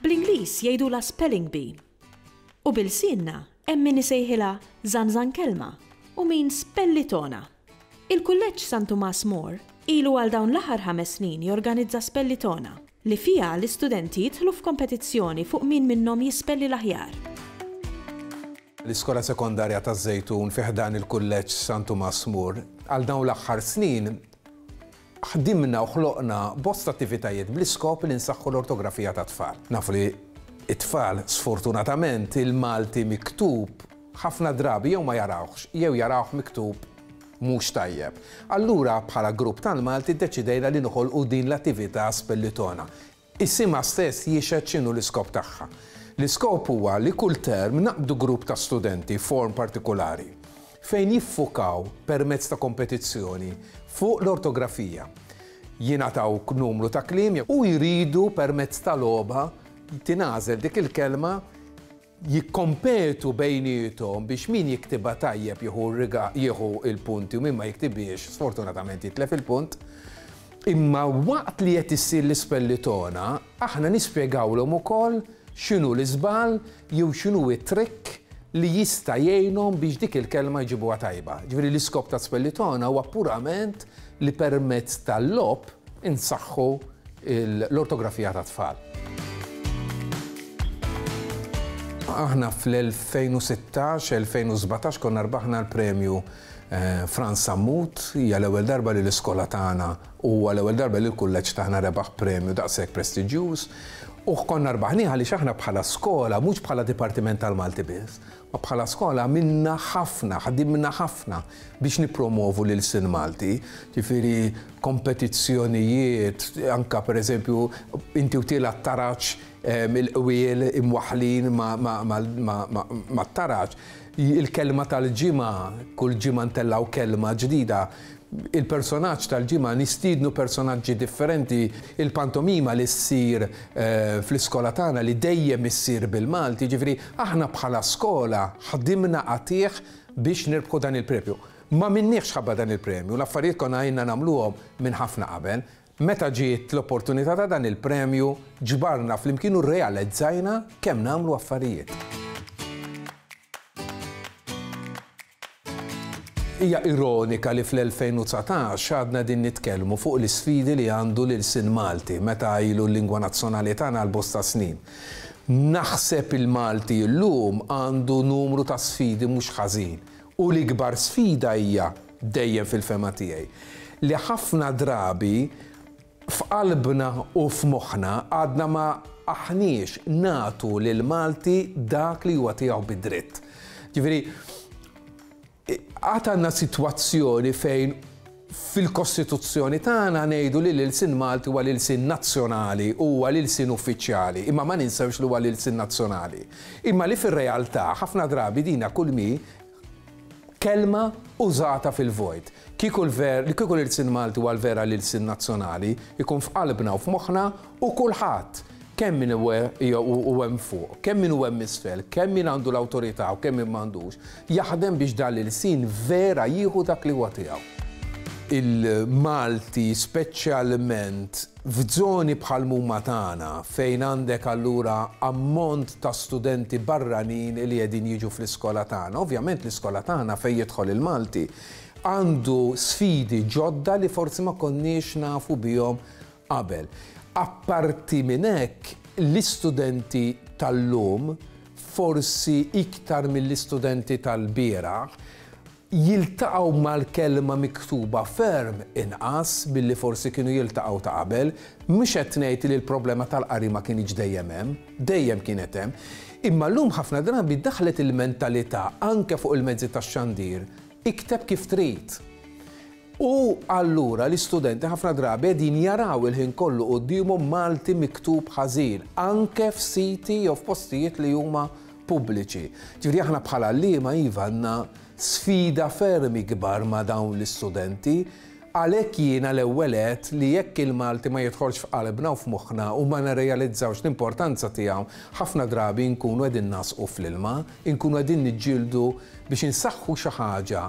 Bl-Ingliż jgħidulha spelling bee. U bil-lsienna hemm min isejħilha żanżankelma u min spellitona. Il-Kulleġġ San Tumas More ilu għal dawn l-aħħar ħames snin jorganizza spellitona li fiha l-istudenti jidħlu f'kompetizzjoni fuq min minnhom jispelli l-aħjar. L-Iskola Sekondarja taż-Żejtun fi ħdan il-Kulleġġ San Tumas Mur. Għal dawn l-aħħar snin ħdimna u ħloqna bosta attivitajiet bl-iskop li nsaħħu l-ortografija tat-tfal. Nafu li t-tfal sfortunatament il-Malti miktub ħafna drabi jew ma jarawhx jew jarawh miktub mhux tajjeb. Allura bħala grupp tal-Malti ddeċidejna li noħolqu din l-attività Spellitona. Isimha stess jixhed x'inhu l-iskop tagħha. L-iskop huwa li kull term naqbdu grupp ta' studenti form partikulari fejn jiffukaw permezz ta' kompetizzjoni fuq l-ortografija. Jingħataw numru ta' kliem u jridu permezz ta' logħba tingħażel dik il-kelma, jikkompetu bejniethom biex min jiktibha tajjeb jieħu l-punti u min ma jiktibhiex sfortunatament jitlef il-punt. Imma waqt li qed issir l-ispellitona, aħna nispjegawlhom ukoll x'inhu l-iżball jew x'inhu t-trikk li jista' jgħinhom biex dik il-kelma jġibuha tajba. Ġifieri l-iskop ta' spellitona huwa purament li permezz tal-logħob insaħħu l-ortografija tat-tfal. Aħna fl-2016, 2017 konna rbaħna l-premju Frans Sammut, hija l-ewwel darba li l-iskola tagħna u huwa l-ewwel darba li l-kulleġġ tagħna rebaħ premju daqshekk prestiġjuż. U konna rbaħnieh għaliex aħna bħala skola, mhux bħala dipartiment tal-Malti biss, Bħala skola għamilna ħafna, ħdimna ħafna biex nippromovu l-ilsien Malti, ġifieri kompetizzjonijiet, anke pereżempju inti u Tiel għat-taraġ, il-qwiel imwaħħlin mat-taraġ, il-kelma tal-ġimgħa, kull ġimgħa ntellgħu kelma ġdida, Il-Personaġġ tal-Ġimgħa, Nistiednu personaġġi differenti, il-pantomima li ssir fl-iskola tagħna li dejjem issir bil-Malti, jiġifieri aħna bħala skola ħdimna qatigħ biex nirbħu dan il-premju. Ma minniex ħabba dan il-premju, l-affarijiet konna ilna nagħmluhom minn ħafna qabel. Meta ġiet l-opportunità ta' dan il-premju, ġbarna flimkien u rrealezzajna kemm nagħmlu affarijiet. Hija ironika li fl-2019 għadna qegħdin nitkellmu fuq l-isfidi li għandu l-ilsien Malti meta ilu l-lingwa nazzjonali tagħna għal bosta snin. Naħseb il-Malti llum għandu numru ta' sfidi mhux ħażin u l-ikbar sfida hija, dejjem fil-fehma tiegħi, li ħafna drabi F'qalbna u f'moħħna għadna ma aħniex nagħtu lill-Malti dak li huwa tiegħu bi dritt. Ġifieri, għad għandna sitwazzjoni fejn fil-Kostituzzjoni tagħna ngħidu li l-ilsin Malti huwa l-ilsin nazzjonali u huwa l-ilsin uffiċjali, imma ma ninsewx li huwa l-ilsin nazzjonali. Imma li fir-realtà ħafna drabi dina kulmi Kelma użata fil-vojt. Kieku l-ver, kieku l-ilsien Malti huwa l-vera l-ilsien nazzjonali, ikun f'qalbna u f'moħħna u kulħadd, kemm min hu hu hemm fuq, kemm min hu hemm isfel, kemm min għandu l-awtorità u kemm min m'għandux, jaħdem biex dan l-ilsien vera jieħu dak li huwa tiegħu. Il-Malti speċjalment F'żoni bħal mumma tagħna, fejn għandek allura ammont ta' studenti barranin li qegħdin jiġu fl-iskola tagħna, ovvjament l-iskola tagħna fejn jidħol il-Malti għandu sfidi ġodda li forsi ma konniex nafu bihom qabel. Apparti minn hekk, l-istudenti tal-lum, forsi iktar mill-istudenti tal-bieraħ, jiltaqgħu mal-kelma miktuba ferm inqas milli forsi kienu jiltaqgħu ta' qabel. Mhux qed ngħid li l-problema tal-qari ma kinitx dejjem hemm, dejjem kienet hemm. Imma llum ħafna drabi daħlet il-mentalità anke fuq il-mezzi tax-xandir, ikteb kif trid. U allura l-istudenti ħafna drabi qegħdin jaraw il-ħin kollu quddiemhom Malti miktub ħażin, anke f'siti jew f'postijiet li huma pubbliċi. Ġifieri aħna bħala għalliema iva għandna sfida ferm ikbar ma' dawn l-istudenti, għalhekk jiena l-ewwel għedt li jekk il-Malti ma jidħolx f'qalbna u f'moħħna u ma nirrealizzawx l-importanza tiegħu, ħafna drabi nkunu qegħdin ngħasqu fl-ilma, inkunu qegħdin niġġieldu biex insaħħu xi ħaġa,